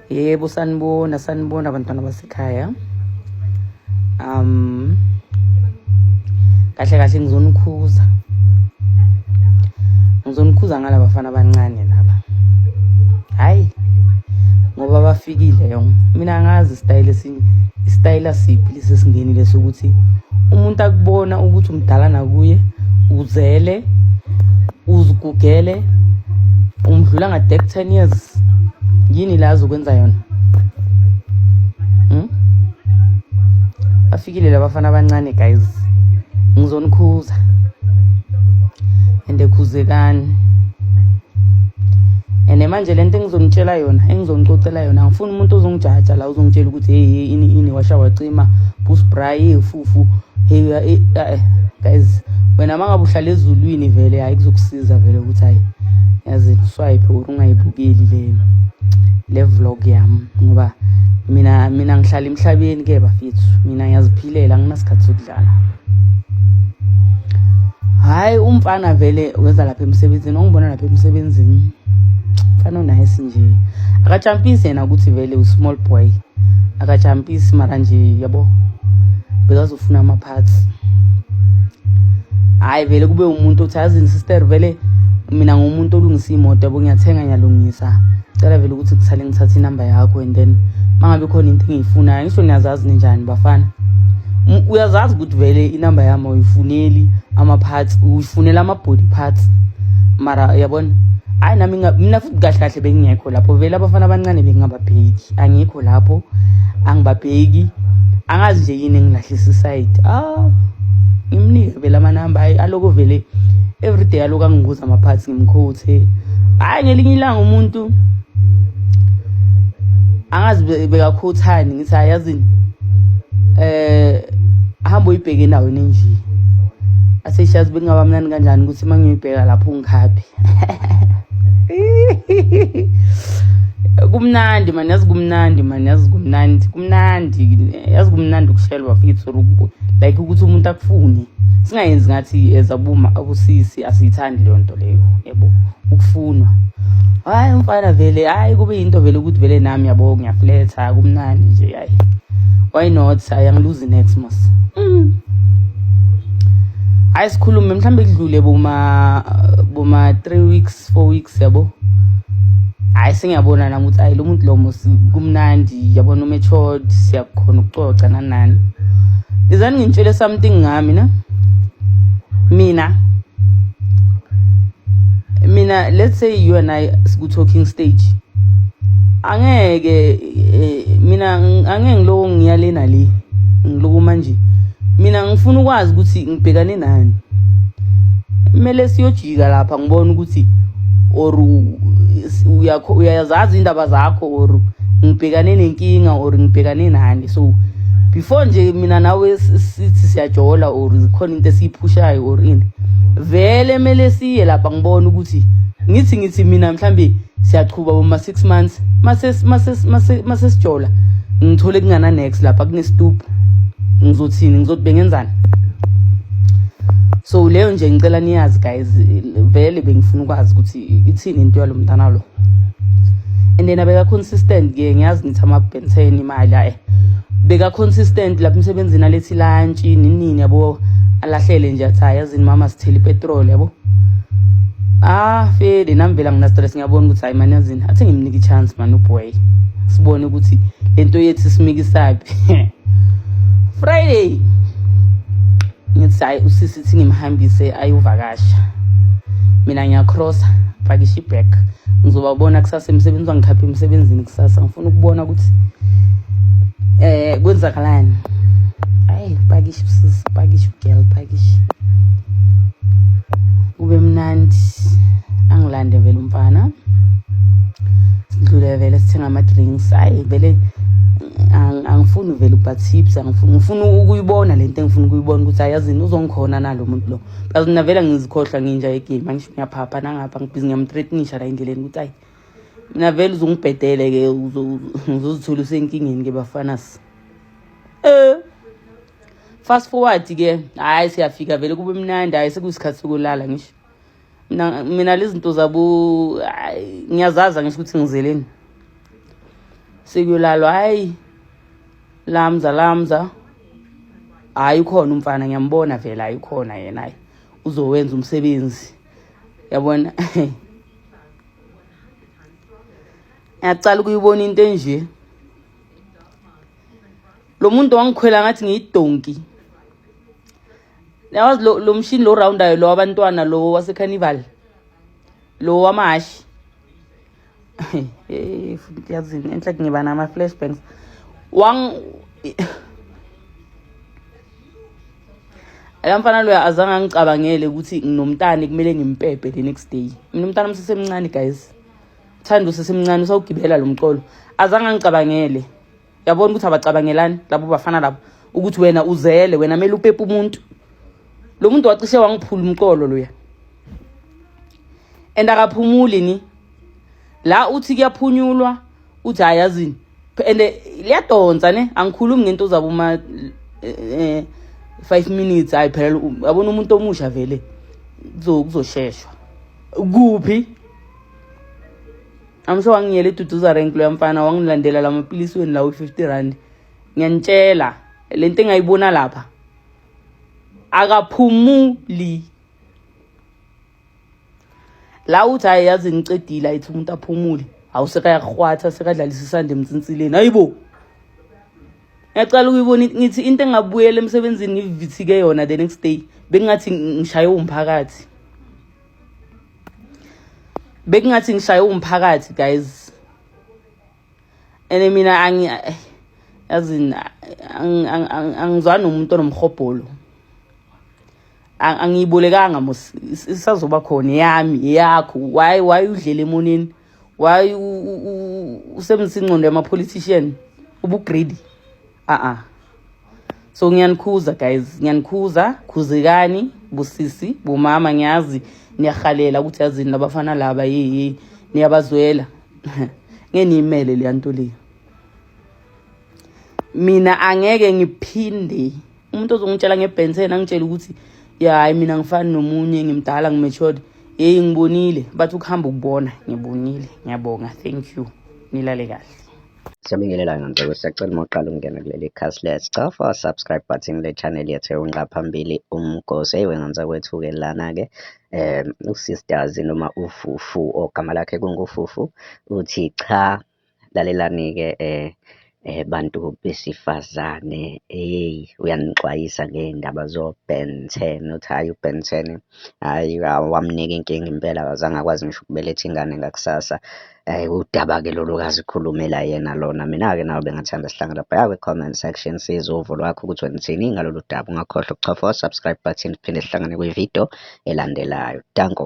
yebo sanibona sanibona abantwana basekhaya um kahle kahle ngizonikhuza ngizonikhuza ngalaba bafana abancane laba hhayi ngoba bafikile yong mina ngazi isitayile isitayela siphi lesi singeni leso ukuthi umuntu akubona ukuthi umdala nakuye uzele uzigugele umdlula ngade ku-ten years yini la azokwenza yona hmm? bafikile labafana abancane guys ngizonikhuza and khuzekani and manje le nto engizonitshela yona engizonicocela yona ngifuna umuntu ozongijaja la uzongitshela ukuthi hey hey ini ini washa wacima bus bry hey fufu hey eh, eh, guys wena mangabe uhlala ezulwini vele hayi kuzokusiza vele ukuthi hayi yazi uswipe or ungayibukeli le le vlog yami ngoba mina mina ngihlala emhlabeni ke bafethu mina ngiyaziphilela nginasikhathi hayi umfana vele weza lapha emsebenzini ongibona lapha emsebenzini mfana onayisi nje akajampisi yena ukuthi vele u-small boy akajampisi mara nje yabo bekazofuna ama-parts hhayi vele kube umuntu othi azini sister vele mina ngumuntu olungisa imoto yabo ngiyathenga ngiyalungisa cela vele ukuthi kusale ngithathe inamba yakho and then mangabe khona into engiyifunayo ngisho niyazazi ninjani bafana uyazazi ukuthi vele inamba yami uyifuneli ama-parts uyifunela ama-body parts mara uyabona hayi nami mina futhi kahle kahle bengingekho lapho vele abafana abancane bengingababheki angikho lapho angibabheki angazi nje yini engilahlisa isayidi ah ngimnike vele amanamba aloko vele everyday aloko angibuza ama-parts ngimkhuthe hayi ngelinye ilanga umuntu angazi bekakhuthani ngithi ayazini eh hamba uyibheke endaweni enje aseshazi bekungaba mnani kanjani ukuthi uma ngiyoyibheka lapho ungikhaphi kumnandi mani yazi kumnandi mani yazi kumnandi kumnandi yazi kumnandi ukushelwa fethu like ukuthi umuntu akufune singayenzi ngathi ezabuma abusisi asiyithandi leyo nto leyo yebo ukufunwa hayi umfana vele hayi kube yinto vele ukuthi vele nami yabo ngiyafletha kumnandi nje hayi why not hayi angiluzi next mos mm. hayi sikhulume mhlawumbe kudlule boma boma 3 weeks four weeks yabo hayi sengiyabona nami ukuthi ayi lo muntu lomo kumnandi yabona umethod siyakukhona ukucoca nanani izani ngintshele something ngami na mina mina let's say you and i siku talking stage angeke eh, mina angeke ngilowo ngiyale nale ngiloku manje mina ngifuna ukwazi ukuthi ngibhekane nani kumele siyoji ika lapha ngibona ukuthi or uyazazi indaba zakho or ngibhekane nenkinga or ngibhekane nani so before nje mina nawe sithi siyajola or khona into esiyiphushayo or ini vele mele siye lapha ngibona ukuthi ngithi ngithi mina mhlambe siyaqhuba boma 6 months mase mase mase mase sijola ngithole kungana next lapha kune stoop ngizothini ngizothi bengenzani so leyo nje ngicela niyazi guys vele bengifuna ukwazi ukuthi ithini into yalomntana lo and then abeka consistent ke ngiyazi ngithi ama benten imali ayi beka consistent lapha emsebenzini alethi lunch nini yabo alahlele nje athi ayazini mama sithele ipetrol yabo Ah Fede nami vela ngina stress ngiyabona ukuthi hayi manje yazini athi ngimnike chance man uboy sibone ukuthi lento yethu simikisaphi Friday ngithi hayi usisi ngimhambise ayovakasha mina ngiyacrossa pakisha ibag ngizobabona kusasa emsebenzini bangikhaphe emsebenzini kusasa ngifuna ukubona ukuthi eh kwenzakalani hayi pakishi usisi pakishi ugirl pakishi kube mnandi angilande vele umfana sidlule vele sithenga ama-drinks hayi vele angifuni vele uba-tips ngifuna ukuyibona le nto engifuna ukuyibona ukuthi ayazini uzongikhona nalo muntu lo plus mina vele ngizikhohlwa nginja yegame angisho ngiyaphapha nangapha ngibhizi ngiyamthreatnisha la endleleni ukuthi ayi mina vele uzungibhedele-ke uzozithola usenkingeni ke bafanas um eh, fast forward-ke hhayi siyafika vele kube mnandi hhayi sekuyisikhathi sokulala ngisho mina mina lezinto zabo ngiyazaza ngisho ukuthi ngizeleni sekuyolalwa hayi lamza lamza hayi ukhona umfana ngiyambona vele hayi ukhona yena hayi uzowenza umsebenzi yabona ngiyacala ukuyibona into enje lo muntu wangikhwela ngathi ngiyidonki yawazi lo mshini lo roundayo lo wabantwana lo wasecarnival lo wamahashi hey futhi yazini enhle ngiba nama flashbacks wang ayamfana loya azange angicabangele ukuthi nginomntana kumele ngimpepe the next day mina umntana umsesemncane guys thanda usesemncane usawugibela lo mcolo azange angicabangele yabona ukuthi abacabangelani labo bafana labo ukuthi wena uzele wena mele upepe umuntu lo muntu wacishe wangiphula umqolo loya and akaphumuli ni la uthi kuyaphunyulwa uthi hayi yazini and liyadonsa ne angikhulumi ngento uzaba uma eh, eh, five minutes hayi phela yabona umuntu omusha vele kuzosheshwa kuphi amsho wangiyela iduduza rank loya mfana wangilandela la mapilisi weni lawo 50 rand ngiyanitshela le nto engayibona lapha akaphumuli la uthi hayi yazi ngicedile ayithi umuntu aphumule awusekayarhwatha sekadlalisa isande emtsinsileni hayibo ngiyacala ukuyibona ngithi into engabuyela emsebenzini ngivithike yona the next day bengingathi ngishaye umphakathi bekungathi ngishaye umphakathi guys ene mina angi yazini angizwa nomuntu onomhobholo angiyibulekanga mos isazoba khona yami yakho why why udlela emoneni why usemnsinqondo yama politician ubugreedy a-a so ngiyanikhuza guys ngiyanikhuza khuzekani busisi bumama ngiyazi niyahalela ukuthi yazini labafana laba yiyi niyabazwela ngeniyimele leya nto leyo mina angeke ngiphinde umuntu ozongitshela ngebhenseni angitshela ukuthi ya hayi mina ngifani nomunye ngimdala ngimatured yeyi ngibonile bathi ukuhamba ukubona ngibonile ngiyabonga thank you nilale kahle Siyabingelelayo ngicela siyacela uma uqala ukungena kuleli khasi lethu cofa subscribe button le channel yethu eyonqa phambili umgosi eyiwe nganisa kwethu-ke lana-ke um usisters noma ufufu ogama lakhe kungufufu uthi cha lalelani-ke um eh bantu besifazane hey uyanixwayisa ngey'ndaba zo-Ben ten uthi hhayi uBen ten hhayi wamnika inkinga impela akazange akwazi ngisho ukubeletha ingane ngakusasa Hhayi udaba-ke lolu kazi khulumela yena lona. Mina-ke nawe bengathanda sihlanga lapha. Ya kwi-comment section siza uvo lwakho ukuthi wena uthini ngalolu daba. Ungakhohlwa ukuchofa o-subscribe button siphinde sihlangane kwi-video elandelayo. Danko.